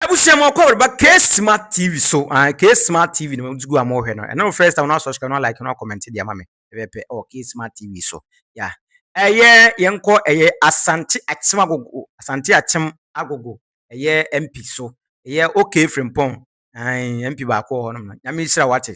Abusua mu ɔkɔ bɛreba K Smart TV so ae K Smart TV na wɔdze gu a mo hwɛ no ɛno first time no subscribe no like no comment deɛ ama me ɛbɛpɛ ɛwɔ K Smart TV so ya ɛyɛ yɛn kɔ ɛyɛ Asante Akyem Agogo Asante Akyem Agogo ɛyɛ MP so ɛyɛ OK Frimpong ae MP baako wɔ hɔ nom no nyame hyira wate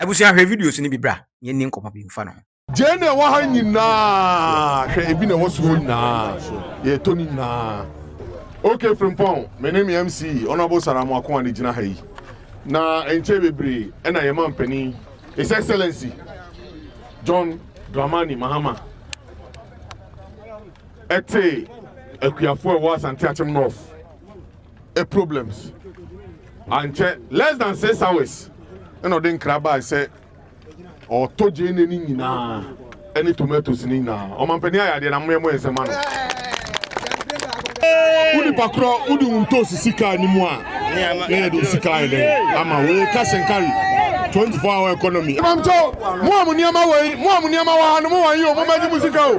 Abusua hwɛ videos no bi bra na yɛnni nkɔmmɔ bi mfa no ho. Gyee na ɛwɔ ha nyinaa hwɛ ebi na ɛwɔ so hɔ nyinaa yɛtɔ ne nyinaa ok Frimpong me ne me MC Honourable Sara Amoako Ane gyina ha yi na ɛnkyɛ bebree ɛna yɛn mampanin His Excellency John Dramani Mahama ɛte akuafoɔ ɛwɔ Asante Akyem North problems. Ankyɛ less than six hours ɛna ɔde nkra baa sɛ ɔtɔ gyeene ne nyinaa ɛne tomatoes ne nyinaa. Ɔmampanin ayɛ adeɛ na mo yɛ mo yɛ nsɛm ano. Wo nipa korɔ wo de wo ntɔ sisi kaa ne mu a na yɛ de wo sika ayɛ dɛn ama wo yɛ cash and carry 24 hour economy. Mɔmkyɛw mo a mo nneɛma wɔ yi mo a mo nneɛma wɔ ha no mo wɔn yi o mo mɛgye mo sika o.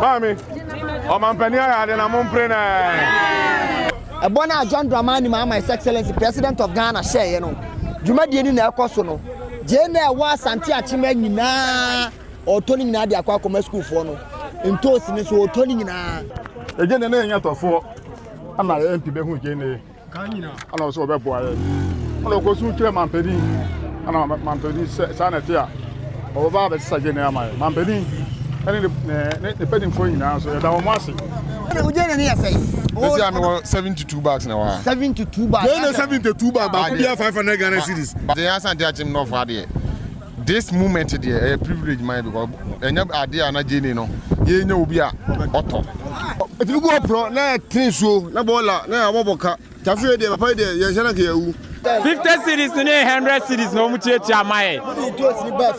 Maame, ɔmampanin ayɛ ade na mo mpere na. Ɛbɔ no a John Dramani Mahama His Excellency President of Ghana hyɛeɛ no, dwumadie no na ɛrekɔ so no. Gyeene a ɛwɔ Asante Akyema nyinaa ɔretɔ ne nyinaa de akɔ akɔma sukuufoɔ no. Ntoosi no nso ɔretɔ ne nyinaa. Gyeene no nyɛ tɔfoɔ. Ama MP bɛhu Gyeene. ana ɔsɛ ɔbɛboa yɛ ana ɔkɔ so kyerɛ mampanin ana mampanin sɛ saa na ɛte a ɔbɛba abɛsesa gyene ama yɛ mampanin ɛne ne mpanimfoɔ nyinaa nso yɛda wɔn ase ɛsi ame wɔ seventy two bags na wɔ ha seventy two bags gyene seventy two bags baako bia five hundred Ghana cedis gyene asante akyem nɔfo adeɛ This moment deɛ ɛyɛ privilege ma yɛ because ɛnyɛ adeɛ a na Jane no yɛnya obi a ɔtɔ. Ɛtumi gu hɔ porɔ na yɛtene nsuo na bɔɔla na yɛabɔ bɔ ka nti afei yɛ deɛ papa yi deɛ yɛnhyɛ no anka yɛawu. Fifty cedis no ne hundred cedis na wɔn tuatua ma yɛ.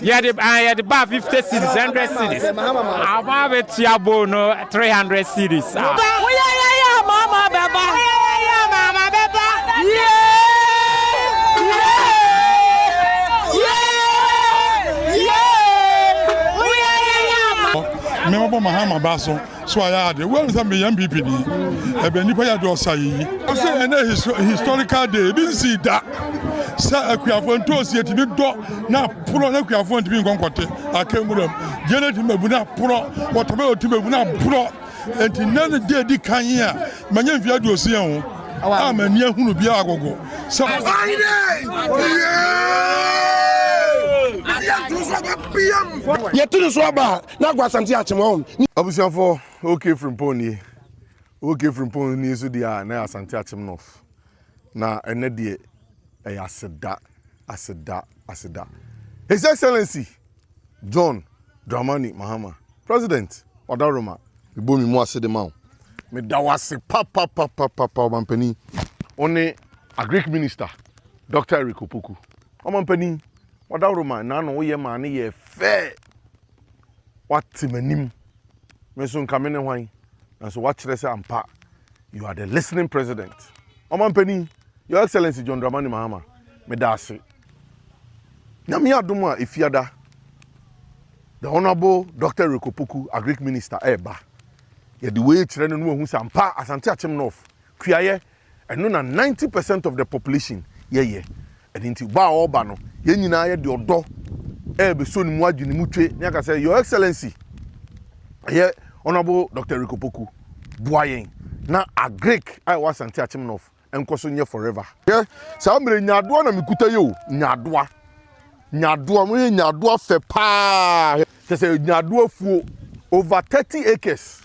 Yɛde ah yɛde ba fifty cedis hundred cedis. Ama abɛtua bowl no. three hundred cedis a. Ba ho yɛ yɛ yɛ a mama bɛ ba. Ho yɛ yɛ yɛ a mama bɛ ba. Yee yee yee yee ho yɛ yɛ yɛ a ma. Me mɔbɔ mahama ba so so ayɛ ade wo sɛ meyɛ npp ni ɛbɛ nnipa yɛ de ɔsa yi. Ɔsɛ ɛnɛ historical day ebi nsii da sɛ akuafo ntoosi etumi dɔ. Na porɔ na kuafoɔ ntumi nkɔ nkɔte aka nwura mu gye na tumi bɛbu na porɔ wɔtɔbɛ ɔtumi bɛbu na porɔ nti nna ne deɛ di kan yi a manya mfeɛ aduosia ho a m'ani ahunu biara agogo sɛ yɛte ne so aba na agwa asante akyem ɔm abusuafoɔ ok frimpong nie ok frimpong nie so deɛ a na yɛ asante akyem north na ɛnɛ deɛ ɛyɛ aseda Aseda, aseda, His Excellency John Dramani Mahama, President Odaroma. Mebɔ me mu ase de ma wo. Meda wo ase papapapapa ɔmampanin. Wo ne Agric Minister Dɔkta Eric Opoku. Ɔmampanin, Odaroma nna ano woyɛ maa no yɛɛ fɛ. Woate m'anim, me nso nka mene hwan? Nanso woakyerɛ sɛ ampa you are the listening president. Ɔmanpanin, Your Excellency John Dramani Mahama, meda ase. Nyame adom a Efiada, the Honourable Doctor Eric Opoku, Agric Minister, ɛreba. Yɛde wei kyerɛ no na wahu sɛ ampa Asante Akyem North, Kuayɛ, Ɛno na ninety percent of the population yɛ yɛ. Ɛno nti ba a ɔreba no, yɛn nyinaa yɛ de ɔdɔ ɛrebɛsɔ ne mu adwi ne mu twe ne aka sɛ, Your Excellency, ɛyɛ Honourable Doctor Eric Opoku, boa yɛn na Agric a ɛwɔ Asante Akyem North nkɔ so nyɛ forever. Hwɛ, saa mmerɛ yi nyaadoa na mekuta yi o, nyaadoa, nyaadoa, mohwɛ nyaadoa fɛ paa, hwɛ, kyerɛ sɛ nyaadoa fuo over thirty acres,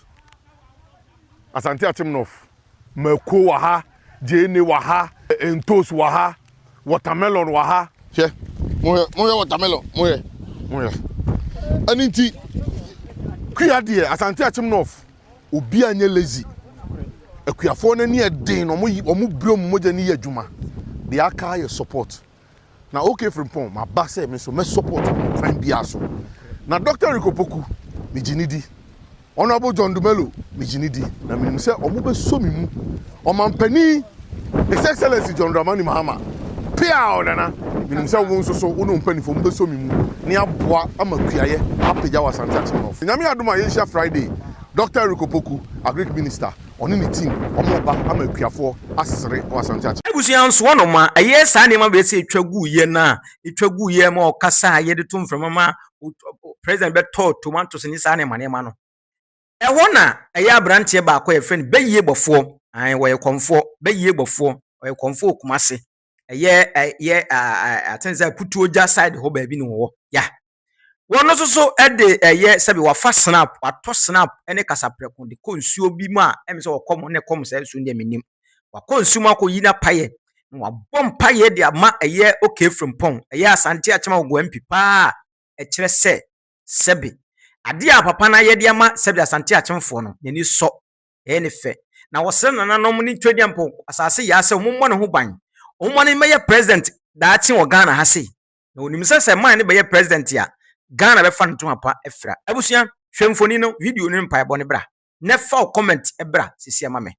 Asante Akyem North. Mako wɔ ha, gyeene wɔ ha, ntos wɔ ha, watermelon wɔ ha. Hwɛ, mohwɛ, mohwɛ watermelon, mohwɛ, mohwɛ. Ɛno nti, kua deɛ, Asante Akyem North, obi anyɛ lazy. Akuafoɔ no ani ɛden, wɔn, wɔn brɛ wɔn mogya no yɛ adwuma. Deɛ aka yɛ support. Na OK Frimpong maba sɛ me nso mɛ support wo wɔ kwan biara so. Na Doctor Eric Opoku me gye no di, Honourable John Dumelo me gye no di na menim sɛ ɔmo bɛ sɔ me mu. Ɔmanpanin His Excellency John Dramani Mahama pia ɔ Nana menim sɛ wo nso so wo ne wo mpaninfoɔ mo bɛ sɔ me mu na yɛ aboa ama kuayɛ apagya wɔ Asante Akyem North. Nyame adom a yɛnhyia Friday Doctor Eric Opoku Agric Minister. Ɔne ne team wɔreba ama akuafoɔ asere wɔ Asante Akyem. Abusua nso wɔnom a ɛyɛ saa nneɛma wei sɛ ɛtwa guiɛ no a ɛtwa guiɛ ma ɔkasa a yɛde to mframa ma President bɛtɔɔ tomatoes ne saa nneɛma nneɛma no. Ɛhɔ na ɛyɛ abranteɛ baako a yɛfrɛ no Bɛyie Bɔfoɔ, ae ɔyɛ kɔmfoɔ, Bɛyie Bɔfoɔ, ɔyɛ kɔmfoɔ wɔ Kumase. ɛyɛ ɛyɛ aten sɛ kutuogya side hɔ baabi na wɔwɔ ya wɔn nso so de ɛyɛ sɛbi wafa snap watɔ snap ne kasaprɛko de kɔ nsuo bi mu a ɛmi sɛ ɔkɔm ne kɔm sɛ nsuo deɛ menim wakɔ nsuo mu akɔ yi na payɛ na wabɔ mpayɛ de ama ɛyɛ oke frimpɔn ɛyɛ asante akyɛm a ɔgɔ mp paa ɛkyerɛ sɛ sɛbi adeɛ a papa no ayɛ de ama sɛbi asante akyɛmfoɔ no n'ani sɔ Ɛyɛ no fɛ. Na wɔsrɛ nananom ne Twedeɛ mpo asase yaa sɛ wɔmmɔ ne ho ban. Wɔmma no mmɛyɛ President daakye wɔ Ghana ha sei. Na wɔnim sɛ sɛ ɛmaa no bɛyɛ President a, Ghana bɛfa no ntoma pa afira. Abusua, hwɛ mfoni no, video no ne mpaebɔ no bra. Na ɛfa wo comment bra sesie ma me.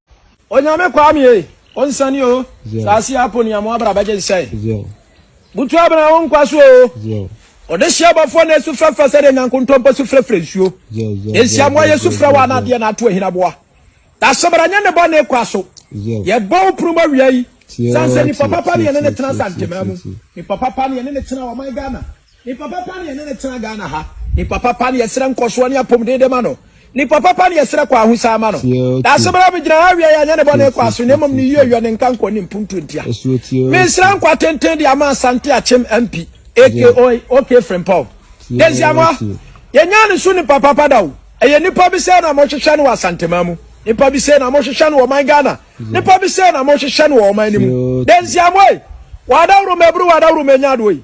Onyame Kwame ei, onsane oo, saase yi apɔ ni amoa bra bɛgye nsɛe. Butu abena wo nkwa so o. Ɔdehye abɔfoɔ na esu frɛfrɛ sɛdeɛ nyankontompo su frɛfrɛ nsuo. Yɛn siamoa yɛ su frɛ wo ana adeɛ na ato ahina boa. Dasebra nyɛ ne bɔne kwa so. Yɛbɔ wo punu mu awia yi. Sansɛ nipa papa ne yɛne ne tena Asantema mu. Nipa papa ne yɛne ne tena ɔman Ghana. Nipa papa ne yɛne ne tena Ghana ha. Nipa papa ne yɛsrɛ nkɔsoɔ ne apomdee de ma no. Ne pɔ papa ne yɛsrɛ kɔ ahosaa ma no Daase bra bɛgyina ha awiɛ yɛanyɛ ne bɔne kɔ aso na mmom ne yie yɔ ne nka nkɔ ne mpuntuo ntia Mesrɛ nkwa tenten de ama Asante Akyem MP aka OK Frimpong Daisy Amoah Yɛnyaa ne so nipa papa da o Ɛyɛ nipa bi sɛɛ na mohwehwɛ no wɔ Asanteman mu Nipa bi sɛɛ na mohwehwɛ no wɔ ɔman Ghana Nipa bi sɛɛ na mohwehwɛ no wɔ ɔman no mu Daisy Amoah Wadaworo maburu wadaworo manya adoɔ yi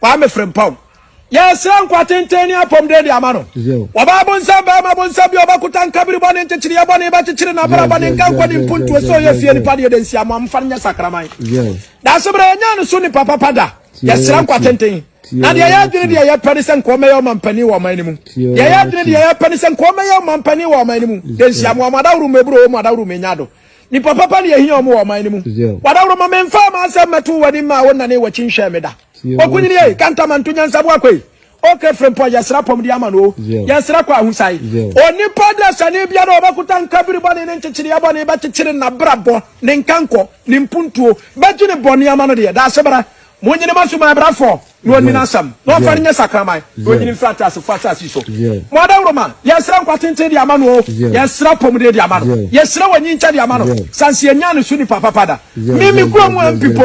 Kwame Frimpong. Yɛresrɛ nkwa tenten ne apɔmuden de ama no. Ɔbaa bonsam, barima bonsam bi a ɔbɛkota nkabiri bɔne, nkyekyereyɛ bɔne, bɛkyekyere n'abara bɔne, nkankɔne, mpuntuo, sɛ ɔyɛ fie nipa deɛ da nsiamoa, momfa no nyɛ sakraman. Daase berɛ yɛnyaa no so nipa papa da. Yɛsrɛ nkwa tenten. Na deɛ ɛyɛ adwene deɛ yɛpɛ ne sɛ nka ɔmmɛyɛ ɔmampanin wɔ ɔman no mu. Deɛ ɛyɛ adwene deɛ yɛpɛ ne sɛ nka ɔmmɛyɛ ɔmampanin wɔ ɔman no mu. Da nsiamoa, mo adaworo mmɛburo o, mo adaworo mmɛnya do. Nnipa papa na yɛhia wɔn wɔ ɔman no mu. W'adaworoma, memfaa m'asɛm mmɛtoo w'anim maa wonnanee w'akyi nhwɛɛ me da. Okunini ei, kantamanto nyansaboa kɔ ei, Okra frempɔn, yɛsrɛ apɔmuden ama no o, yɛsrɛ kɔ ahosae. Onipa dasani biara a ɔbɛkota nka bere bɔne ne nkyekyereɛ bɔne bɛkyekyere n'abrabɔ, ne nkankɔ, ne mpuntuo, bɛgye ne bɔne ama no deɛ, daasebra, monyini mo aso, m'abrɛfoɔ. na ɔnni n'asɛm, na ɔmfa no nyɛ sakraman, na ɔnnyini mfiri ateasefo asase so. Mo adawuroma, yɛsrɛ nkwa tenten de ama no o, yɛsrɛ apɔmuden de ama no, yɛsrɛ wɔnyinkyɛ de ama no, sansi ɛnyaa ne so nipa papa da. Me, me kuro mu MP mpo,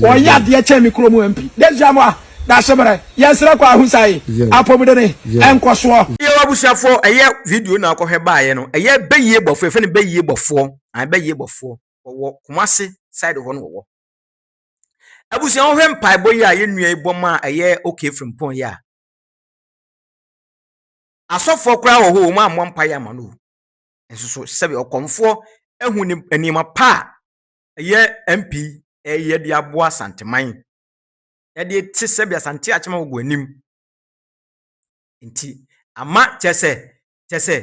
ɔyɛ adeɛ kyɛn me kuro mu MP. Dɛsia moa, Dashemerɛ, yɛsrɛ kɔ Ahunsaye, apɔmudene, nkɔsoɔ. Yɛwɔ abusuafoɔ, ɛyɛ video na ɔkɔhwɛ baeɛ no, ɛyɛ Bɛyie Bɔfoɔ, yɛfrɛ no Bɛyie Bɔfoɔ, ae Bɛyie Bɔfoɔ, wɔwɔ Kumasi side hɔ na wɔwɔ. abusua wohwɛ mpaebɔ yi a yɛn nua yi bɔ ma a ɛyɛ okay frimpɔn yi a asɔfoɔ koraa wɔ hɔ wɔn ammɔ mpaeɛ ama no nso so sɛbi ɔkɔmfoɔ ahu ne nneɛma pa a ɛyɛ mp ɛyɛ de aboa santeman ɛde te sɛbi asante akyema wɔ anim nti ama kyɛ sɛ kyɛ sɛ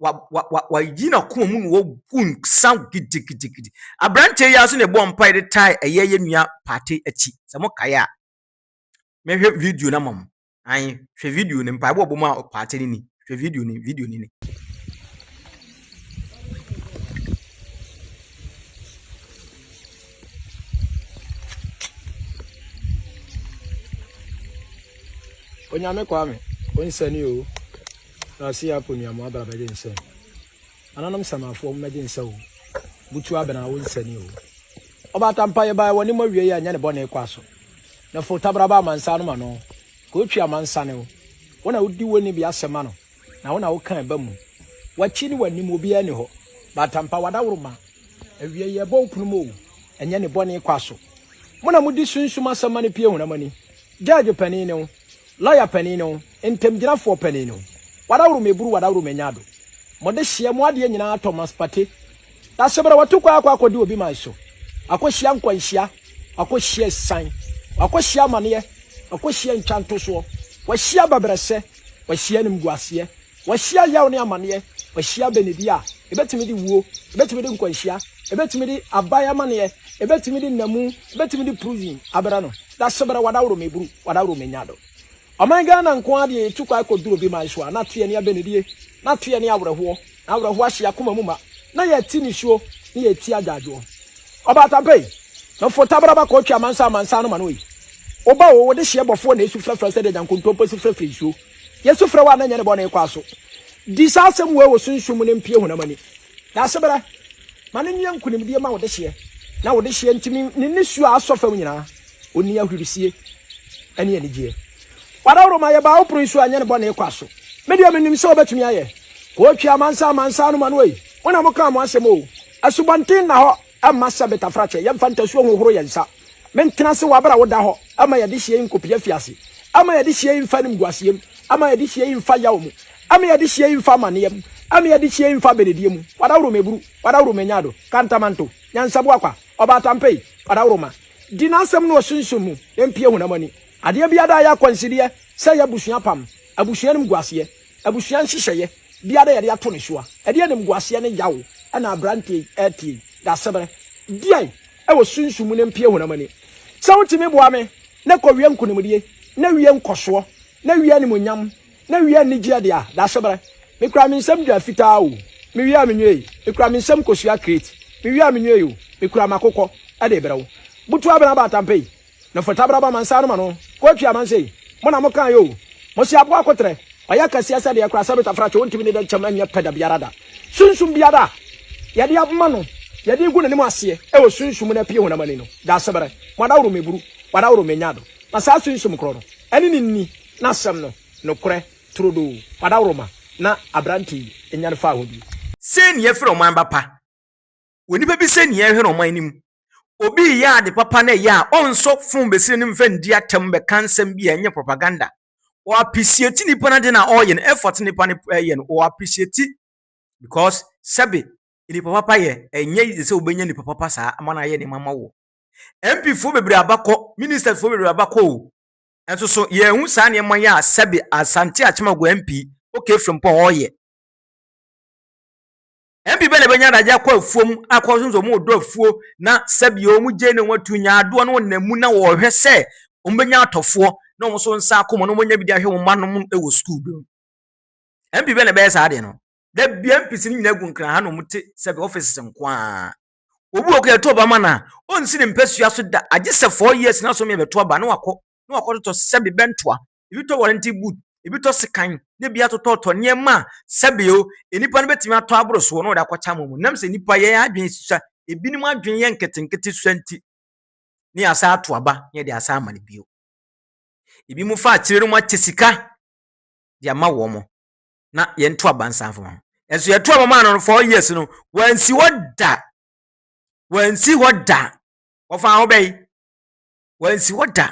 wa wa wa wayi n'akoma mu na wagu nsa gidigidigidi aberanteɛ yi ara so na ɛbɔ mpae de tae ɛyɛ yɛ nua paate akyi sɛ mo kae a mɛhwɛ video no ama mo an hwɛ video no mpaebɔ ɔbɔ mu a paate no ni hwɛ video no video no ni onyame kwame onsani o Rasia akɔ nua mo abra bɛgye nsɛ ananom samafoɔ mo mɛgye nsɛ o butu abena awo nsɛni o ɔba atampa yɛ baa wɔne mo awie yɛ anyɛ ne bɔne kɔ aso na fo tabra ba amansa no ma no ka otwi amansa ne o wɔn a wodi wɔni bi asɛm ano na wɔn a woka ɛba mu wakyi ne wanim obiara ni hɔ ba atampa wada woro ma awie yɛ bɔ okunu mo o ɛnyɛ ne bɔne kɔ aso mo na modi sunsum asɛm ma ne pie hunamani judge panin ne o lawyer panin ne o Ntamgyinafoɔ panin no, wadaworo meburu wadaworo manya ado mo de hyeɛ mo adeɛ nyinaa tɔ mas pate na seberɛ watu kwan akɔ akɔdi obi man so akɔhyia nkwanhyia akɔhyia asisan wakɔhyia amaneɛ wakɔhyia ntwantosoɔ wahyia abɛbrɛsɛ wahyia animguaseɛ wahyia yaw ne amaneɛ wahyia abɛnidie a ɛbɛtumi de wuo ɛbɛtumi de nkwanhyia ɛbɛtumi de aban amaneɛ ɛbɛtumi de nnamu ɛbɛtumi de prison abrɛ no na seberɛ wadaworo meburu wadaworo manya ado Ɔman Ghana nko ara deɛ yɛtu kwan kɔduru obi man so a, na teɛ ne abɛnidie, na teɛ ne awerɛhoɔ, na awerɛhoɔ ahyɛ yɛn akoma mu ma, na yɛte nisuo, ne yɛte agyaadwoɔ. Ɔbaa Tampei, meforo tabaraba kɔɔtwe amansan amansan no ma no ei. Woba o, wode hyeɛ bɔfoɔ na ɛsu frɛfrɛ sɛdeɛ nyankontompo su frɛfrɛ nsuo. Yɛsu frɛ wo a na ɛnyɛ ne bɔne kɔ aso. Di saa asɛm wei wɔ sunsum mu na ɛmpue honam ani. Daasebrɛ, ma no nyɛ nkonimdie ma wo dehyeɛ, na wo dehyeɛ nti ne nisuo a asɔ fam nyinaa, ɔnni ahurisie ne anigyeɛ. Wadaworo ma yɛbaa wo pono so a ɛnyɛ ne bɔne kwa so. Me deɛ menim sɛ wobɛtumi ayɛ. Kootwi amansan amansan no ma no ei, mo na mokaa mo asɛm oo, asubɔnten nna hɔ. Mma sɛ betafrakyɛ, yɛmfa ntasuo nhohoro yɛn nsa. Mentena ase wɔ abere a woda hɔ, mma yɛde hyia yi nkɔpue afiase. Mma yɛde hyia yi mfa animguaseɛ mu, mma yɛde hyia yi mfa yaw mu, mma yɛde hyia yi mfa amaneɛ mu, mma yɛde hyia yi mfa abenedie mu. Wadaworo meburu, wadaworo menyado, kantamanto, nyansaboa kwa, ɔbaatampei, wadaworo ma. Di n'asɛm no wɔ sunsum mu na mpue honam ani. Adeɛ biara a ɛyɛ akwansideɛ sɛ ɛyɛ abusua apam, abusua animguaseɛ, Abusua nhyehyɛeɛ biara a yɛde ato ne soa. Ɛdeɛn animguaseɛ ne yaw na aberanteɛ yi rete yi? Dasebrɛ deɛn wɔ sunsum mu na ɛmpue honam ani? Sɛ wotumi boa me na kɔ wie nkonimdie, na wie nkɔsoɔ, na wie animuonyam, na wie anigyeɛ deɛ a, Dasebrɛ. Mekura me nsam dua fitaa o, mewie a menwieei. Mekura me nsam kosua krate, mewie a menwieei o, mekura m'akokɔ de rebrɛ wo. Butuabena Abaatampɛ yi. Na fata bra ba mansa no ma no kɔtwi amansɛi mo na mo kae o mo se aboa koterɛ ɔyɛ kɛseɛ sɛdeɛ kora sɛbit afrakye wontimi ne dɛnkyɛm ɛnyɛ pɛ dabiara da sunsum biara a yɛde ama no yɛde regu nanim aseɛ ɛwɔ sunsum no apie honam ani no daaseberɛ mo adaworo meburu wadaworo menya do na saa sunsum korɔ no ɛne ne nni nasɛm no nokorɛ turodoo wadaworo ma na aberante yi nyane faa hɔ bi. Sei ne yɛfrɛ ɔman ba pa. Onipa bi sɛ nea ɛhwere ɔman no mu. Obi reyɛ ade papa na ɛyɛ a, ɔnsɔ fon besini no mfa ndi atɛm mmɛka nsɛm bi a ɛnyɛ propaganda. Ɔappreciate nipa no ade no a ɔreyɛ no, effort nipa no reyɛ no, ɔappreciate because sɛbe nipa papa yɛ, ɛnyɛ easy sɛ wobɛnya nipa papa saa ama no ayɛ nneɛma ama wo. MP foɔ bebree abakɔ, ministers foɔ bebree abakɔ o. Nso so yɛahu saa nneɛma yi a sɛbe Asante Akyemagua MP, OK Frimpong ɔreyɛ. Mfe bɛn na ebenya no adze akɔ afuom akɔ so dze wɔn ɔdɔ afuo na sɛbea wɔn gyei na wɔn atu nya adoɔ no wɔnam mu na wɔhwɛ sɛ wɔn bɛnya atɔfoɔ na wɔn nso nsa akɔ mu na wɔn nya bi de ahwɛ wɔn mma nom wɔ sukuu bi mu. Mfe bɛn na ɛbɛyɛ saa adeɛ no? Da bia mpisi no nyinaa gu nkran ha na wɔn te sɛbea offices nko ara. Obi wɔ kɔ yɛto ɔba ma no a, ɔnsi ne mpasua so da agye sɛ four years na so mmea bɛto aba na wakɔ na wakɔtotɔ sɛbe bɛntoa ebi tɔ warranty boot, ebi tɔ sekan, na ebi atotɔtɔ nneɛma a sɛbeo nnipa no betumi atɔ aboro soɔ na wɔde akɔkyɛ ama wɔn. Nam sɛ nnipa yɛn adwene susua, ebinom adwene yɛ nketenkete susua nti, ne yɛasan ato aba na yɛde asan ama no bio. Ebi mo fa akyire no mo akyɛ sika de ama wɔn na yɛn to aba nsan fama ho. Ɛnso yɛto aba maa no no four years no, wɔansi hɔ da. Wɔansi hɔ da. Wɔfa ho bɛyi. Wɔansi hɔ da.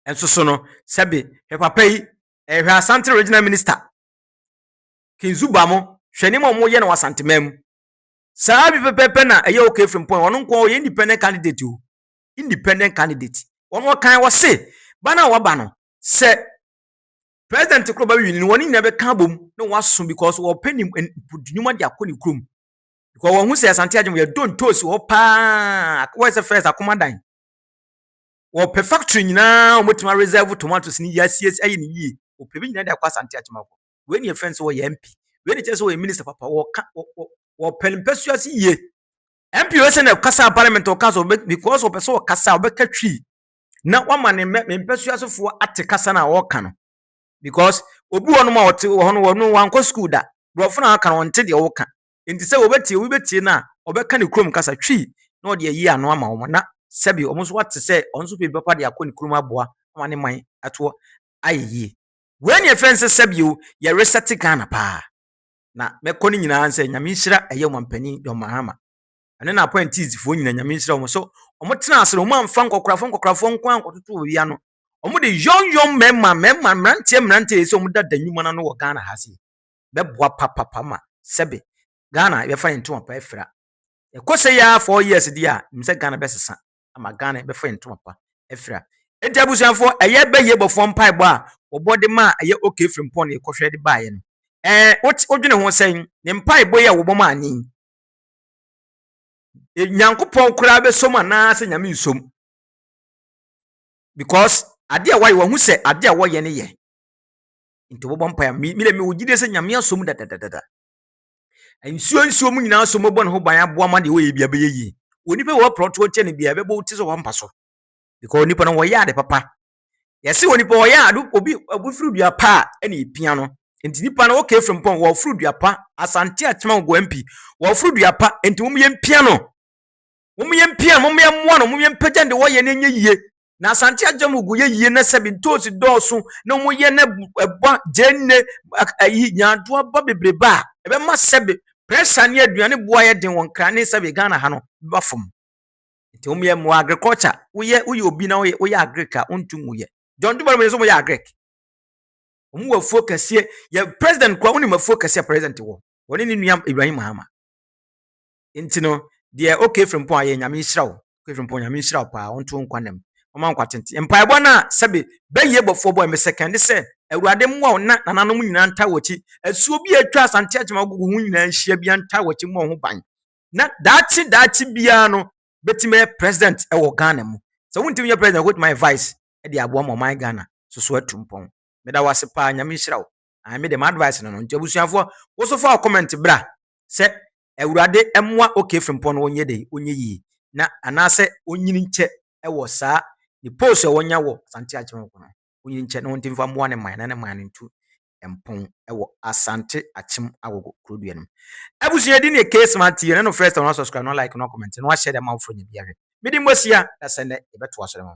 nso so no, sɛbe hwɛ papa yi, hwɛ Asante Regional Minister, King Zuba mo, hwɛ nneɛma a wɔyɛ no wɔ Asanteman mu. Saa bi pɛpɛpɛ na ɛyɛ OK Frimpong, ɔno nko ɔyɛ independent candidate o, independent candidate. Ɔno ɔkan wɔ se, ba no a waba no, sɛ president koro ba bɛwini no, wɔn nyinaa bɛka abom na wɔaso because wɔpɛ ne nnwuma de akɔ ne kurom. Because wɔn ho sɛ Asante Agyeman yɛ don tosi hɔ paa, wɔyɛ sɛ first akomadan. wɔpɛ factory nyinaa a wɔbɛtumi areserve tomatoes no yie asiesie ayɛ no yie wɔpɛ bi nyinaa de akɔ asante akyemafo wei ne yɛfrɛ no sɛ wɔyɛ mp wei ne kyerɛ sɛ wɔyɛ minister papa wɔka wɔpɛ mpɛsoa ase yie mp wei sɛ na ɛkasa parliament ɔka so because wɔpɛ sɛ ɔkasa wɔbɛka twi na wɔama ne mpɛsoa asefoɔ ate kasa no a wɔka no because obi wɔnom a ɔte wɔ hɔ no wɔno wankɔ school da borɔfo no a ɔka no ɔnte deɛ wɔka Enti sɛ wɔbɛtie, obi bɛtie no a, ɔbɛka ne kurom kasa twi na ɔde ayi ano ama wɔn, na sɛbe wɔn nso wɔate sɛ wɔn nso pɛ bi papa de akɔ ne kurom aboa ama ne man atoɔ ayɛ yie. Wei ne ɛfɛ nsɛ sɛbe o, yɛresɛte Ghana paa. Na mɛkɔ no nyinaa nsɛ Nyame nhyira ɛyɛ Ɔmampanin John Mahama, ɛno na apɔɛntiisifoɔ nyina Nyame nhyira wɔn sɛ wɔn tena ase no wɔn amfa nkɔkorafoɔ nkɔkorafoɔ nko ara nkɔtoto obi ano. Wɔn de yɔn yɔn mmarima mmarima mmeranteɛ mmeranteɛ sɛ wɔn dada nnwuma no ano wɔ Ghana ha sei. bɛboa papapa ma sɛbe Ghana yɛbɛfa yɛn ntoma pa afira. Ɛkɔ sɛ yi ara four years di a, nim sɛ Ghana bɛsesa ama Ghana yɛbɛfa yɛn ntoma pa afira. Enti abusuafoɔ, ɛyɛ bɛyie bɔfoɔ mpaebɔ a wɔbɔ de ma a ɛyɛ okay Frimpong na yɛkɔhwɛ de baeɛ no. Ɛɛ, wote wodwene ho sɛn? Ne mpaebɔ yi a wɔbɔ ma ani yi, e, Nyankopɔn koraa bɛsom anaasɛ Nyame nsom? Because ade a wɔayɛ, wɔahu sɛ ade a wɔyɛ no yɛ. nti wɔbɔ mpae a me deɛ mewɔ gyidie sɛ nyame asɔ mu dadadadada nsuo nsuo mu nyinaa so mobɔ ne ho ban aboa ma deɛ wɔyɛ bia bɛyɛ yie onipa wɔ prɔtoɔ kyɛ no bia ɛbɛbɔ wo ti sɛ wɔampa so because onipa no wɔyɛ ade papa yɛse onipa wɔyɛ ade obi obi firi dua pa a ɛna ɛpia no nti nipa no wɔkɛ firi mpɔn wɔforo dua pa asante atema wɔ goa mpi wɔforo dua pa nti wɔn yɛ mpia no wɔn yɛ mpia no wɔn yɛ mmoa no wɔn yɛ mpagya no deɛ wɔyɛ no ɛnyɛ yie Na Asante agya mu gu yɛ yie na sɛbi ntoosi dɔɔso na wɔn yɛ na ɛba gyeene ayi nyaado aba bebrebe a ɛbɛma sɛbi pressure ne aduane bu ayɛ den wɔ nkran ne sɛbi Ghana ha no ba fam. Nti wɔn yɛ mmoa agriculture woyɛ woyɛ obi na woyɛ woyɛ agric a wɔntu mu yɛ. John Dumalo mo yɛ sɛ wɔyɛ agric. Wɔn wɔ afuo kɛseɛ yɛ president kura wɔn nim afuo kɛseɛ president wɔ wɔne ne nua Ibrahim Mahama. nti no deɛ o kefiri mpɔn ayɛ nyame nhyira wo kefiri mpɔn nyame nhyira wo paa ɔnto nkwa nam ɔma nkwa tenten mpaebɔ no a sɛbe bɛyie bɔfoɔ bɔ ɛmɛ sɛkɛn de sɛ awurade mmoa wo na nananom nyinaa nta wɔkyi asuo bi a atwa asante akyema agogo ho nyinaa nhyia bia nta wɔkyi mmɔ ho ban na daakye daakye biara no bɛtumi bɛyɛ president ɛwɔ ghana mu sɛ wontumi nyɛ president wobɛtumi ayɛ vice ɛde aboa ma ɔman ghana soso atu mpɔn meda wo ase paa nyame nhyira wo me de m'advice no no nti abusuafoɔ woso fa wo comment bra sɛ Awurade mmoa OK Frimpong no ɔnyɛ dɛn ɔnyɛ yie na anaasɛ ɔnyini nkyɛ wɔ saa ne post a ɔnya wɔ Asante Akyem ho no ɔnyini nkyɛ na ɔntumi mfa mmoa ne man na ne man no ntu mpon wɔ Asante Akyem Agogo kurodua no mu. Abusua din yɛ K Smart TV ɛnɛ no first time na subscribe na like na comment na wahyɛ dɛ ma wo fo nya bi ahwɛ. Mede Mbosia na sɛ nnɛ yɛbɛtoa so dɛ ma.